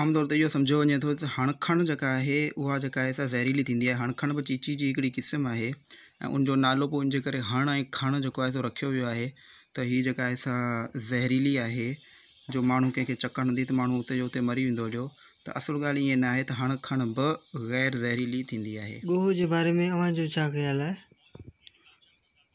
عام طور تي اهو سمجهيو وڃي ٿو ته هڻ کڻ جيڪا آهي اها جيڪا آهي سا زهريلي ٿيندي آهي هڻ کڻ به چيچي جي هڪڙي قسم آهي ۽ ان جو نالو پوء ان جي ڪري هڻ ۽ کڻ جيڪو آهي سو رکيو ويو آهي ته هي جيڪا آهي سا زهريلي آهي جو ماڻهو ڪنهن کي چڪ هڻندي ته ماڻهو اتي جو اتي مري ويندو هجو ته اصل ڳالهه ائين نه آهي ته هڻ کڻ به غير زهريلي ٿيندي آهي. ڳوهه جي باري ۾ اوهان جو ڇا خيال آهي؟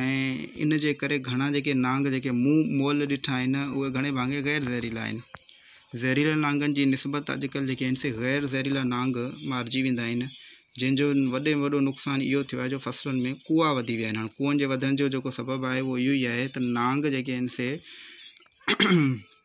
۽ ان جي ڪري گهڻا جيڪي نانگ جيڪي مون مول ڏٺا آهن اهي گهڻي ڀاڱي غير زهريلا آهن زهريلن نانگن جي نسبت اڄڪلهه جيڪي آهن سي غير زهريلا نانگ مارجي ويندا آهن جنهن جو وڏي ۾ وڏو نقصان اهو ٿيو آهي جو فصلن ۾ ڪوئا وڌي ويا آهن هاڻي ڪوئن جي وڌڻ جو جيڪو سبب آهي اهو اهو ئي آهي ته نانگ جيڪي آهن سي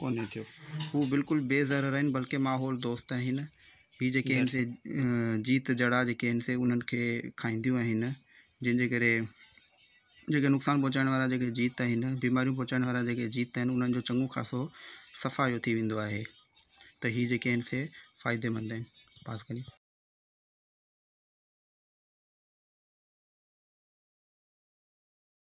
ڪونهي ٿيو. هو بلڪل بي ضرر آهن بلڪه ماحول دوست آهن. هي جيڪي آهن سي جيت جڙا جيڪي آهن سي انهن کي کائينديون آهن جن جي ڪري جيڪي نقصان پهچائڻ وارا جيڪي جيت آهن بيماريون پهچائڻ وارا جيڪي جيت آهن انهن جو چڱو خاصو صفايو ٿي ويندو آهي ته هي جيڪي آهن سي فائديمند آهن پاس ڪري